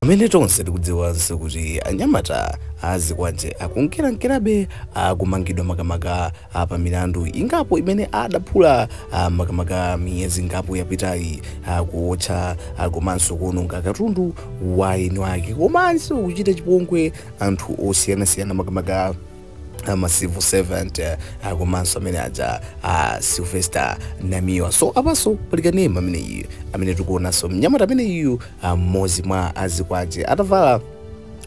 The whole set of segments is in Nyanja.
Pamene tonse tikudziwanso kuti anyamata a azikwanje akunkerankerabe akumangidwa makamaka a pa milandu ingapo imene adapalamula a makamaka miyezi ingapo yapitayi akuotcha a komanso kuononga katundu wa eni ake komanso kuchita chipongwe anthu osiyanasiyana makamaka ama civil servant eh, ah, komanso amene aja a sylvester namiwa so apanso pali kanema amene iyu amene tikuonanso mnyamata amene iyu ah, mmodzi mwa azikwanje atavala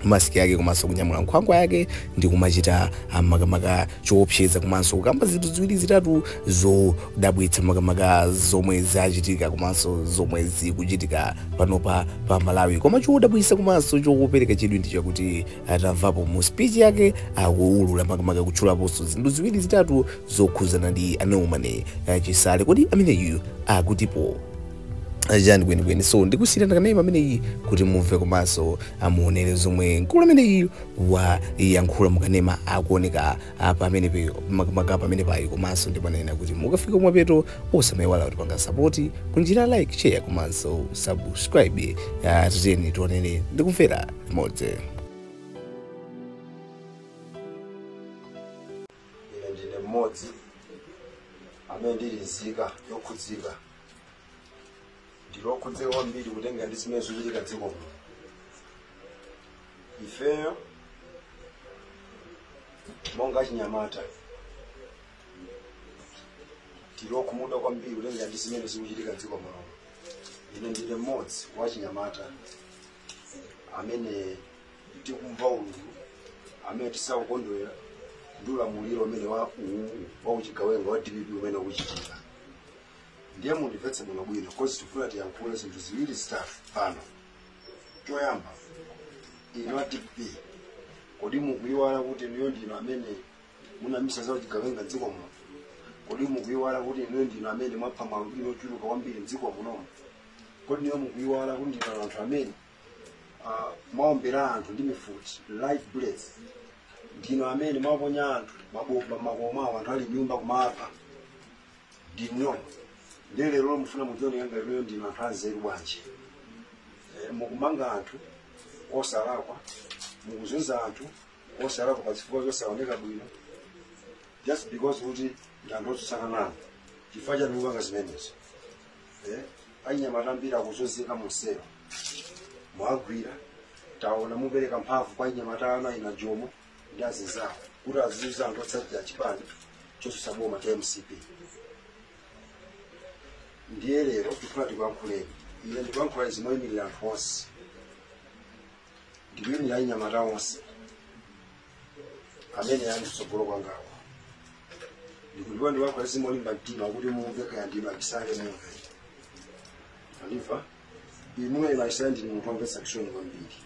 masiki yake komanso kunyamula nkhwangwa yake ndi kumachita ah, makamaka choopseza komanso kukamba zinthu ziwiri zitatu zodabwitsa makamaka zomwe zachitika komanso zomwe zikuchitika panopa pa malawi koma chodabwitsa komanso chopereka chidwi ndi chakuti tamvapo mu speech yake akuulula makamaka kutchulaponso zinthu ziwiri zitatu zokhuzana ndi a norman chisale kodi ameneyu akutipo chani kwenikweni so ndikusiyirana kanema ameneyi kuti mumve komanso muonere zomwe mkulu ameneyu wayankhula mukanema akuoneka apa amene pe- makamaka pamene apayi komanso ndipanene kuti mukafika kumapeto osamayiwala kutipanga sapoti kunjira like share komanso subscribe uh, tiyeni tionere ndikumvera limodzi ine ndine mmodzi amene ndili nzika yokhudzika ndili okhudzika kwambiri kutengera ndi zimene zikuchitika mdziko muno ifeyo monga achinyamata tili okhumudwa kwambiri kutengera ndi zimene zikuchitika mdziko muno ine ndine mmodzi wa achinyamata amene tikumva ululu amene sitikukondwera ndi ulamuliro umene wa uwu wa uchigawenga wa dpp umene ukuchitika ndiye mundimvetse bwino bwino coz tifuna tiyankhule zinthu ziwiri zitatu pano choyamba inu a dpp kodi mukuyiwala kuti inuyo ndinu amene munayambitsa za uchigawenga mdziko muno kodi mukuyiwala kuti inuyo ndinu amene mwapha ma alubino ochuluka kwambiri mdziko munomo kodi inuyo mukuyiwala kuti ndinu anthu amene ah, mwaombera anthu ndi mifuti live bullets ndinu amene mwaponya anthu mabomba mmakomo mwawo anthu ali mnyumba kumapha ndinuyo ndiye lero mufuna mudzioneka ngati inuyo ndinu anthu anzeru bwanji Eh, mukumanga anthu osalakwa mukuzunza anthu osalakwa pa zifukwa zosaoneka bwino just because kuti ndi anthu otsutsana nanu chifukwa chani mukupanga zimenezo Eh, anyamata ambiri akuzunzika mumsewu mwagwira tauni mwapereka mphamvu kwa anyamata anu akina jomo ndi azinzawo kuti azizunza anthu otsatira chipani chotsutsa boma cha mcp ndiye lero tikufuna tikuyankhuleni ine ndikuyankhula izi moyimirira anthu onse ndikuyimirira anyamata onse amene ali kutsogolo kwangawo ndikuliwa ndiyankhula izi molimba mtima kuti mumve kaya ndinu a Chisale mumve mwandimva inu a Chisale ndinu munthu womvetsa chisoni kwambiri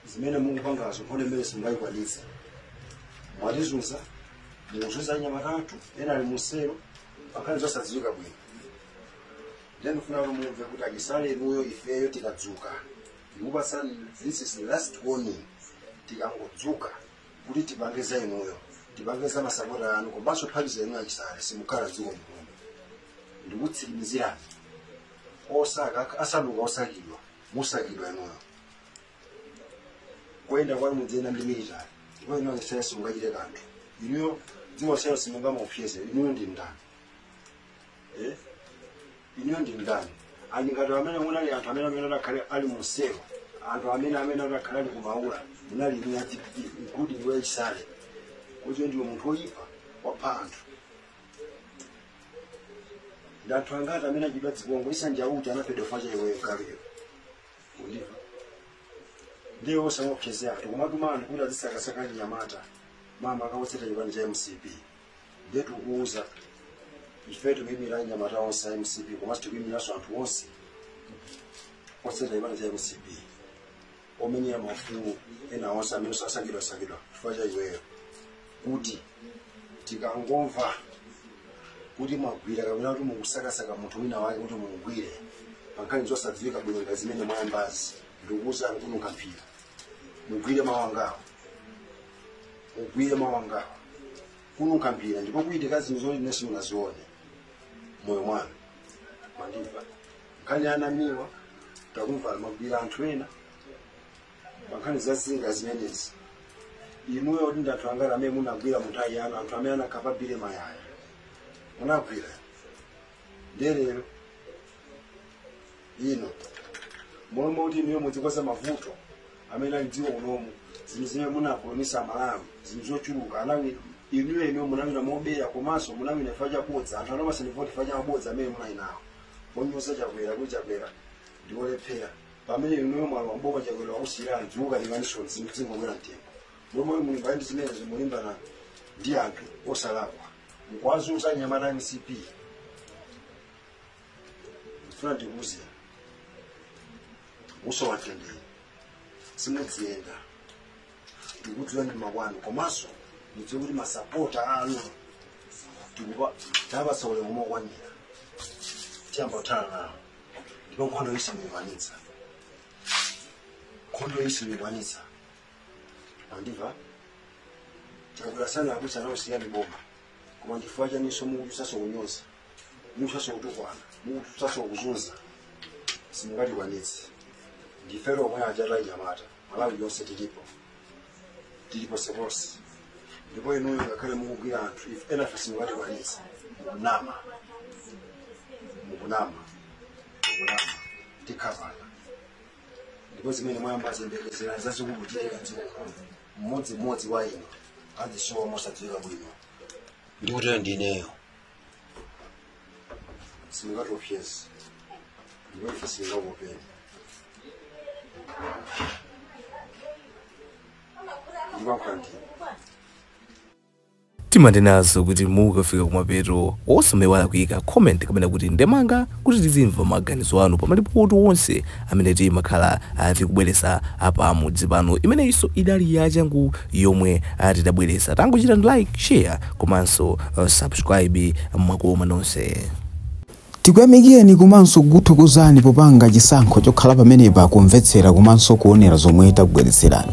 zimene mukupangazo mpone mmene simungayikwanitse mwatizunza mukuzunza anyamata athu ena ali muselo pankhani zosadziwika bwino ndiye ndifuna kuti mumve kuti achisale inuyo ifeyo tikadzuka ndikupatsani this is the last warning tikangodzuka kuti tipange za inuyo tipange za masapota anu komanso kuphatikiza inu achisale simukhala dziko muno ndikutsimizirani osaka asanduka osakidwa musakidwa inuyo kuyenda kwanu mudziyenda ndi military ndipo inu a Chisale simungachite kanthu inuyo dziko lonseli simungaliopseze inuyo ndi ndani Eh? inuyo ndi ndani ngati amene munali anthu amene amene akanakhala ali muselo anthu amene amene akanakhala ali kumaula munali inuyo a dpp including iwe chisale kuti ndiwe munthu woyipa wapha anthu ndi anthu angati amene achita chipongwe Issa Njauju anaphedwa chifukwa cha iweyo galuyo ukundimva ndiye osamaopseza anthu kumatuma anthu kuti azisakasaka anyamata makamaka otsata chipani cha mcp ndiye tikukuuza ife tikuyimira anyamata onse a mcp komanso tikuyimiranso anthu onse otsata chipani cha mcp omenyera maufulu ena onse amene akusakidwasakidwa chifukwa cha iweyo kuti tikangomva kuti mwagwira kapena kuti mukusakasaka munthu wina wake kuti mumugwire pankhani zosadziwika bwino ngati zimene mwayambazi ndikukuuzani kununkha mphira mugwire mawu angawa mugwire mawu angawa kununkha mphira ndipo kuchitika zinthu zoti inu simunazione moyo mwanu mwandimva nkhani ya a Namiwa takumva mwagwira anthu ena pa nkhani za zinga zimenezi inuyo kuti ndi anthu angati amene munagwira munthawi yanu anthu amene anakhapa Billy Mayaya munagwira ndiye lero lino mmalo mwa kuti inuyo mudzikonza mavuto amene ali dziko munomu zinthu zimene munapulomisa amalawi zinthu zochuluka munawina inuyo inuyo munawina mobera komanso munawina chifukwa chabodza anthu anakupatsani voti chifukwa cha mabodza amene munali nawo Monyoza chakwera kuti chakwera ndi wolephera pamene inuyo mwalowa mboma chakwera wakusiyirani dziko mukalione zinthu zingokwera mtengo mmalo mwa kulimbana ndi zimenezo mulimbana ndi anthu osalakwa mukuwazunza anyamata a mcp ndifuna ndikuuze usowa mtendere simudziyenda ndikutirani makwanu komanso mudziwe kuti masapota anu tikuwapatsa ulemu wokwanira tiyamba kuthana nawo ndipo nkhondo iyi simikwanitsa nkhondo iyi simikwanitsa mwandimva tikabwera sana abusa nawo siyani boma koma ndi chifukwa chaninso mukutionetsanso kunyoza mukutionetsanso kutukwana mukutionetsanso kuzunza simungatikwanitse ndife omwe aja anyamata malawi yonse tilipo tilipo ponseponse ndipo inuyo ngakhale mukugwira anthu ife enafe simungatikwanitse mukunama mukunama mukunama tikhapana ndipo zimene mwayambazi yembekezerani zazikulu kuchitika dziko mmodzi mmodzi wa inu azidzasowa mosadziwika bwino ndikutero ndineyo simungatiopseze ndipo ife sitingakuopeni ndimakulandira timanena izo kuti mukafika kumapeto osamaiwala kuyika comment kapena kuti ndemanga Kuti tizimva maganizo anu pa malipoti onse amene timakhala tikubweretsa pa mudzi pano imeneyinso idali yachangu yomwe tidabweretsa tangochitani like share komanso subscribe mwakoma nonse. Tikuyamikireni komanso kukuthokozani popanga chisankho chokhala pamenepa kumvetsera komanso kuonera zomwe takubweretserani.